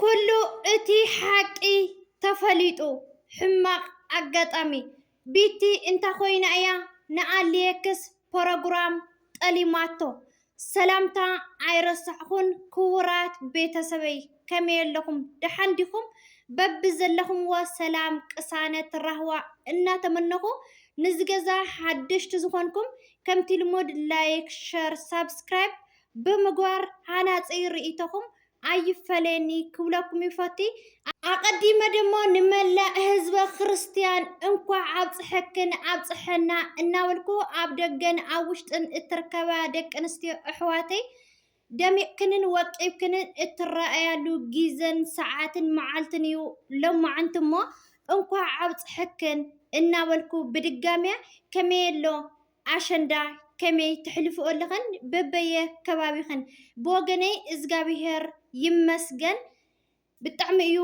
ኩሉ እቲ ሓቂ ተፈሊጡ ሕማቅ ኣጋጣሚ ቢቲ እንታ ኮይና እያ ንኣሌክስ ፖሮግራም ጠሊማቶ ሰላምታ ኣይረሳዕኩን ክቡራት ቤተሰበይ ከመይ ኣለኹም ደሓን ዲኹም በብዘለኹምዎ ሰላም ቅሳነት ራህዋ እናተመነኹ ንዝገዛ ሓደሽቲ ዝኾንኩም ከምቲ ልሙድ ላይክ ሸር ሳብስክራይብ ብምግባር ሃናጺ ርእይቶኹም ኣይፈለየኒ ክብለኩም ይፈቲ። ኣቀዲመ ደሞ ንመላእ ህዝበ ክርስትያን እንኳዕ ኣብፀሐክን ኣብፀሐና እናበልኩ ኣብ ደገን ኣብ ውሽጥን እትርከባ ደቂ ኣንስትዮ ኣሕዋተይ ደሚቅክንን ወቂብክንን እትረኣያሉ ጊዘን ሰዓትን መዓልትን እዩ ሎማዕንቲ እሞ እንኳዕ ኣብፀሐክን እናበልኩ ብድጋሚያ ከመይ ኣሎ ኣሸንዳ ከመይ ተሕልፍኦ ኣለኽን በበየ ከባቢኽን? ብወገነይ እዝጋቢሄር ይመስገን ብጣዕሚ እዩ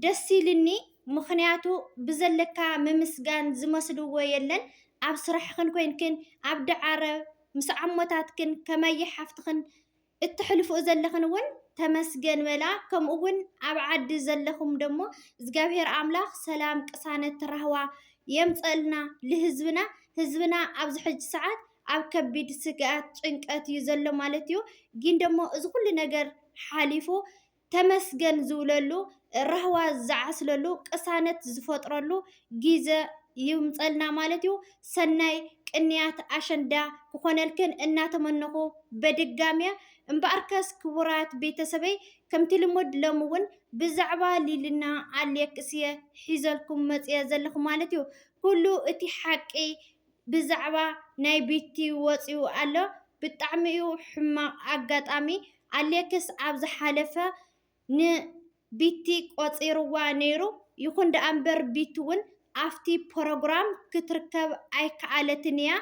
ደስ ኢልኒ ምኽንያቱ ብዘለካ ምምስጋን ዝመስልዎ የለን ኣብ ስራሕኽን ኮይንክን ኣብ ዳዓረ ምስ ዓሞታትክን ከመይ ሓፍትኽን እተሕልፍኦ ዘለኽን እውን ተመስገን በላ ከምኡ እውን ኣብ ዓዲ ዘለኹም ደሞ እግዚኣብሔር ኣምላኽ ሰላም ቅሳነት ራህዋ የምፀእልና ልህዝብና ህዝብና ኣብዚ ሕጂ ሰዓት ኣብ ከቢድ ስግኣት ጭንቀት እዩ ዘሎ ማለት እዩ ጊን ደሞ እዚ ኩሉ ነገር ሓሊፉ ተመስገን ዝብለሉ፣ ራህዋ ዝዓስለሉ፣ ቅሳነት ዝፈጥረሉ ጊዘ ይምፀልና ማለት እዩ። ሰናይ ቅንያት ኣሸንዳ ክኾነልክን እናተመነኹ በድጋሜ እምበኣርከስ ክቡራት ቤተሰበይ ከምቲ ልሙድ ሎሚ እውን ብዛዕባ ሊልና ኣሌክስ እየ ሒዘልኩም መፂኤ ዘለኹ ማለት እዩ። ኩሉ እቲ ሓቂ ብዛዕባ ናይ ቢቲ ወጺኡ ኣሎ ብጣዕሚ እዩ ሕማቅ ኣጋጣሚ ኣሌክስ ኣብ ዝሓለፈ ን ቢቲ ቆጺርዋ ነይሩ ይኩን ደኣ እምበር ቢቲ ውን ኣብቲ ፖሮግራም ክትርከብ ኣይከኣለትን እያ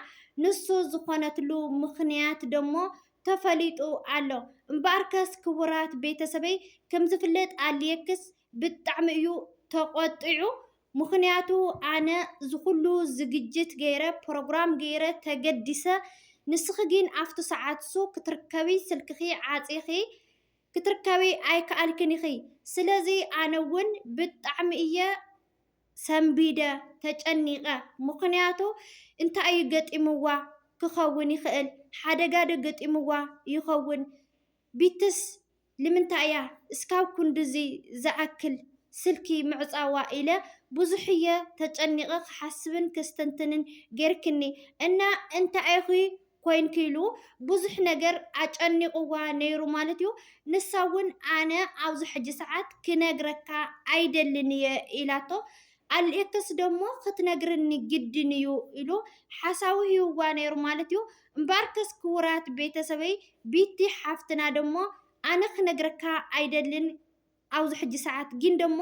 ንሱ ዝኮነትሉ ምክንያት ደሞ ተፈሊጡ ኣሎ እምበኣርከስ ክቡራት ቤተሰበይ ከምዝፍለጥ ኣሌክስ ብጣዕሚ እዩ ተቆጢዑ ምኽንያቱ ኣነ ዝኹሉ ዝግጅት ገይረ ፕሮግራም ገይረ ተገዲሰ ንስኺ ጊን ኣፍቱ ሰዓት እሱ ክትርከቢ ስልክኺ ዓጺኺ ክትርከቢ ኣይከኣልክን ኢኺ ስለዚ ኣነ ውን ብጣዕሚ እየ ሰንቢደ ተጨኒቀ ምኽንያቱ እንታይ እዩ ገጢምዋ ክኸውን ይኽእል ሓደጋ ዶ ገጢምዋ ይኸውን ቢትስ ልምንታይ እያ እስካብ ኩንድዚ ዝኣክል ስልኪ ምዕጻዋ ኢለ ብዙሕ እየ ተጨኒቀ ክሓስብን ከስተንትንን ጌርክኒ እና እንታይ ኢኪ ኮይንኪ ኢሉ ብዙሕ ነገር ኣጨኒቅዋ ነይሩ ማለት እዩ ንሳ ውን ኣነ ኣብዚ ሕጂ ሰዓት ክነግረካ ኣይደልን እየ ኢላቶ ኣልኤክስ ደሞ ክትነግርኒ ግድን እዩ ኢሉ ሓሳዊ ሂቡዋ ነይሩ ማለት እዩ። እምበኣርከስ ክቡራት ቤተሰበይ ቢቲ ሓፍትና ደሞ ኣነ ክነግረካ ኣይደልን ኣብዚ ሕጂ ሰዓት ጊን ደሞ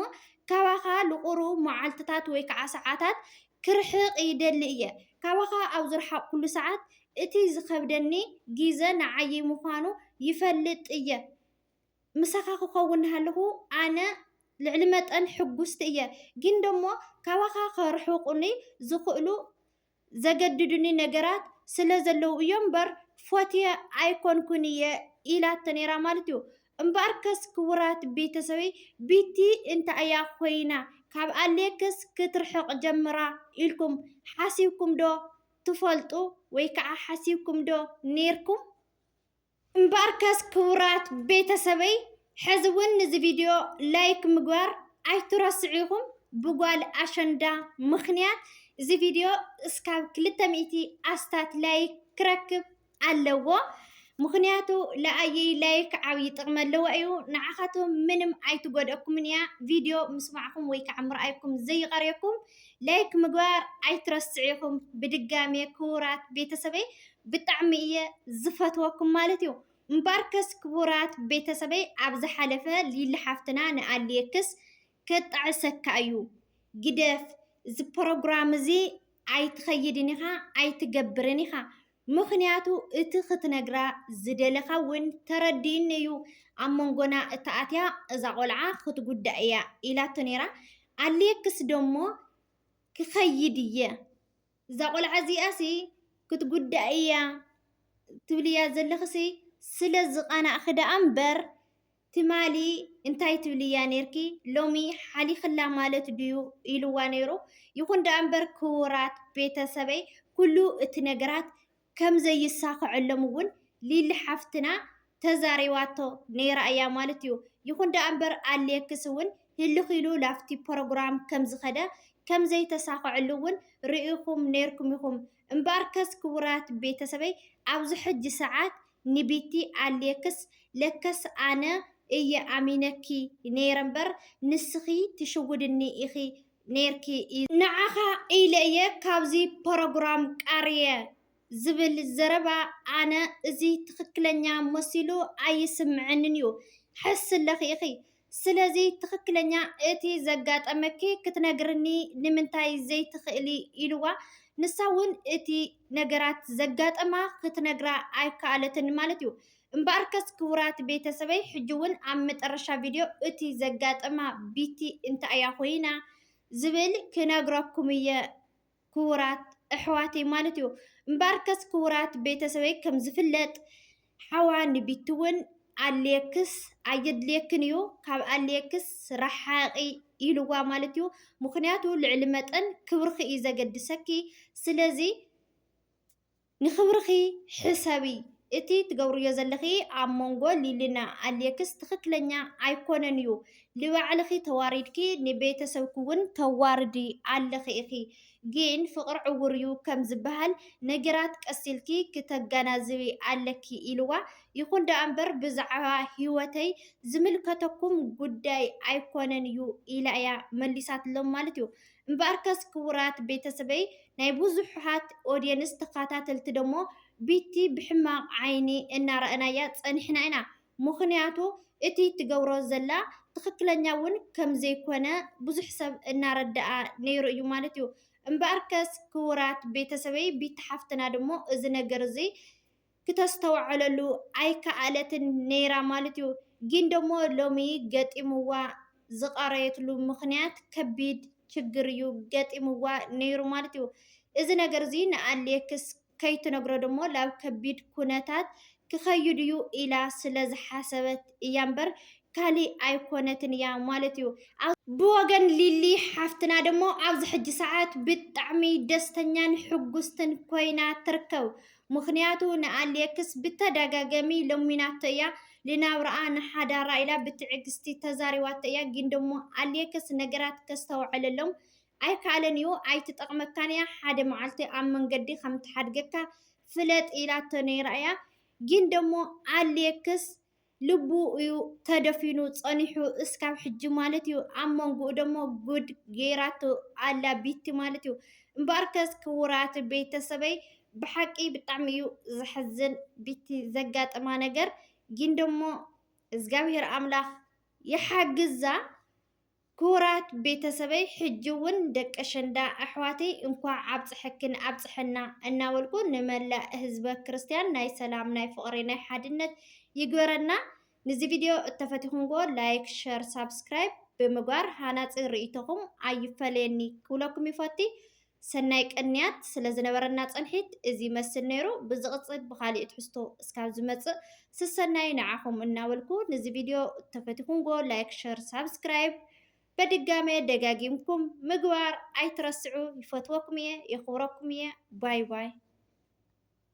ካባኻ ልቑሩ መዓልትታት ወይ ከኣ ሰዓታት ክርሕቕ ይደሊ እየ። ካባኻ ኣብ ዝረሓቕኩሉ ሰዓት እቲ ዝኸብደኒ ጊዘ ንዓይይ ምዃኑ ይፈልጥ እየ። ምሳኻ ክኸውን ናሃለኹ ኣነ ልዕሊ መጠን ሕጉስቲ እየ፣ ግን ደሞ ካባኻ ከርሕቑኒ ዝኽእሉ ዘገድዱኒ ነገራት ስለ ዘለዉ እዮም እምበር ፎትየ ኣይኮንኩን እየ ኢላቶ ነይራ ማለት እዩ። እምበኣርከስ ክቡራት ቤተሰበይ ቢቲ እንታይ እያ ኮይና ካብ ኣሌክስ ክትርሕቕ ጀምራ ኢልኩም ሓሲብኩም ዶ ትፈልጡ ወይ ከዓ ሓሲብኩም ዶ ነይርኩም? እምበኣርከስ ክቡራት ቤተሰበይ ሕዚ እውን ንዚ ቪድዮ ላይክ ምግባር ኣይትረስዑ ኢኹም ብጓል ኣሸንዳ ምኽንያት እዚ ቪድዮ እስካብ ክልተ ሚእቲ ኣስታት ላይክ ክረክብ ኣለዎ ምኽንያቱ ለኣየይ ላይክ ዓብዪ ጥቕሚ ኣለዎ እዩ ንዓኻትኩም ምንም ኣይትጎድኣኩምን እያ ቪድዮ ምስማዕኩም ወይ ከዓ ምርኣይኩም ዘይቐርየኩም ላይክ ምግባር ኣይትረስዑ ኢኹም ብድጋሜ ክቡራት ቤተሰበይ ብጣዕሚ እየ ዝፈትወኩም ማለት እዩ። እምበኣርከስ ክቡራት ቤተሰበይ ኣብ ዝሓለፈ ሊሊ ሓፍትና ንኣሌክስ ከጣዕሰካ እዩ ግደፍ እዚ ፕሮግራም እዚ ኣይትኸይድን ኢኻ ኣይትገብርን ኢኻ ምኽንያቱ እቲ ክትነግራ ዝደለኻ እውን ተረዲኡኒ እዩ ኣብ መንጎና እተኣትያ እዛ ቆልዓ ክትጉዳእ እያ ኢላቶ ነይራ ኣሌክስ ደሞ ክኸይድ እየ እዛ ቆልዓ እዚኣሲ ክትጉዳእ እያ ትብልያ ዘለኽሲ ስለ ዝቓናእኺ ደኣ እምበር ትማሊ እንታይ ትብልያ ነርኪ ሎሚ ሓሊኽላ ማለት ድዩ ኢልዋ ነይሩ። ይኹን ደኣ እምበር ክቡራት ቤተሰበይ ኩሉ እቲ ነገራት ከም ዘይሳኸዐሎም እውን ሊሊ ሓፍትና ተዛሪባቶ ነይራ እያ ማለት እዩ። ይኹን ደኣ እምበር ኣሌክስ እውን ህልኽ ኢሉ ላብቲ ፕሮግራም ከም ዝኸደ ከም ዘይተሳኸዐሉ እውን ርኢኹም ነይርኩም ኢኹም። እምበኣርከስ ክቡራት ቤተሰበይ ኣብዚ ሕጂ ሰዓት ንቢቲ ኣሌክስ ለከስ ኣነ እየ ኣሚነኪ ነይረ እምበር ንስኺ ትሽውድኒ ኢኺ ኔርኪ እዩ። ንዓኻ ኢለ እየ ካብዚ ፖሮግራም ቃርየ ዝብል ዘረባ ኣነ እዚ ትኽክለኛ መሲሉ ኣይስምዐንን እዩ ሕስለኺ ኢኺ ስለዚ ትኽክለኛ እቲ ዘጋጠመኪ ክትነግርኒ ንምንታይ ዘይትኽእሊ ኢልዋ ንሳ እውን እቲ ነገራት ዘጋጠማ ክትነግራ ኣይከኣለትን ማለት እዩ እምበኣርከስ ክቡራት ቤተሰበይ ሕጂ ውን ኣብ መጠረሻ ቪድዮ እቲ ዘጋጠማ ቢቲ እንታይ እያ ኮይና ዝብል ክነግረኩም እየ ክቡራት እሕዋተይ ማለት እዩ እምበኣርከስ ክቡራት ቤተሰበይ ከም ዝፍለጥ ሓዋ ንቢቲ ውን ኣሌክስ ኣየድልየክን እዩ ካብ ኣሌክስ ራሓቂ ኢልዋ ማለት እዩ ምክንያቱ ልዕሊ መጠን ክብርኪ እዩ ዘገድሰኪ ስለዚ ንክብርኺ ሕሰቢ እቲ ትገብርዮ ዘለኺ ኣብ ሞንጎ ሊሊና ኣልየክስ ትኽክለኛ ኣይኮነን እዩ ልባዕልኺ ተዋሪድኪ ንቤተሰብኪ ውን ተዋርዲ ኣለኺ ኢኺ ግን ፍቅሪ ዕውር እዩ ከም ዝባሃል ነገራት ቀስ ኢልኪ ክተጋናዝቢ ኣለኪ ኢልዋ ይኹን ዳኣ እምበር ብዛዕባ ሂወተይ ዝምልከተኩም ጉዳይ ኣይኮነን እዩ ኢላ እያ መሊሳትሎም ማለት እዩ እምበኣርከስ ክቡራት ቤተሰበይ ናይ ብዙሓት ኦድየንስ ተኻታተልቲ ደሞ ቢቲ ብሕማቕ ዓይኒ እናረኣናያ ጸኒሕና ኢና ምኽንያቱ እቲ ትገብሮ ዘላ ትኽክለኛ ውን ከም ዘይኮነ ብዙሕ ሰብ እናረደኣ ነይሩ እዩ ማለት እዩ እምበኣርከስ ክቡራት ቤተሰበይ ቢቲ ሓፍትና ደሞ እዚ ነገር እዚ ክተስተውዕለሉ ኣይከኣለትን ነይራ ማልት'ዩ። ጊን ደሞ ሎሚ ገጢምዋ ዝቐረየትሉ ምኽንያት ከቢድ ችግር'ዩ ገጢምዋ ነይሩ ማልት'ዩ። እዚ ነገር'ዚ ንኣሌክስ ከይትነግሮ ደሞ ላብ ከቢድ ኩነታት ክኸይድ'ዩ ኢላ ስለ ዝሓሰበት እያ'ምበር ካሊእ ኣይኮነትን እያ ማለት'ዩ። ብወገን ሊሊ ሓፍትና ደሞ ኣብዚ ሕጂ ሰዓት ብጣዕሚ ደስተኛን ሕጉስትን ኮይና ትርከብ። ምኽንያቱ ንኣሌክስ ብተደጋገሚ ለሚናቶ እያ ልናብራኣ ንሓዳራ ኢላ ብትዕግስቲ ተዛሪባቶ እያ ግን ደሞ ኣሌክስ ነገራት ከስተውዕለሎም ኣይካኣለን እዩ ኣይትጠቅመካን እያ ሓደ ማዓልቲ ኣብ መንገዲ ከምትሓድገካ ፍለጥ ኢላቶ ነይራ እያ ግን ደሞ ኣሌክስ ልቡ እዩ ተደፊኑ ጸኒሑ እስካብ ሕጂ ማለት እዩ። ኣብ መንጉኡ ደሞ ጉድ ጌራቶ ኣላ ቢቲ ማለት እዩ። እምበኣርከስ ክውራት ቤተሰበይ ብሓቂ ብጣዕሚ እዩ ዘሕዝን ቢቲ ዘጋጠማ ነገር ጊን ደሞ እዝጋብሄር ኣምላክ ይሓግዛ። ክቡራት ቤተሰበይ ሕጂ ውን ደቂ ኣሸንዳ ኣሕዋተይ እንኳዕ ኣብፀሐክን ኣብፀሐና እናበልኩ ንመላእ ህዝበ ክርስትያን ናይ ሰላም ናይ ፍቅሪ ናይ ሓድነት ይግበረና ንዚ ቪድዮ እተፈቲኩምዎ ላይክ ሸር ሳብስክራይብ ብምግባር ሃናፂ ሪኢቶኹም ኣይፈለየኒ ክብለኩም ይፈቲ ሰናይ ቅንያት ስለ ዝነበረና ጽንሒት እዚ ይመስል ነይሩ። ብዝቕጽል ብኻሊእ ትሕዝቶ እስካብ ዝመጽእ ስሰናዩ ንዓኹም እናበልኩ ንዚ ቪድዮ ተፈቲኹምጎ ላይክ ሸር ሳብስክራይብ በድጋመ ደጋጊምኩም ምግባር ኣይትረስዑ ይፈትወኩም እየ የኽብረኩም እየ ባይ ባይ።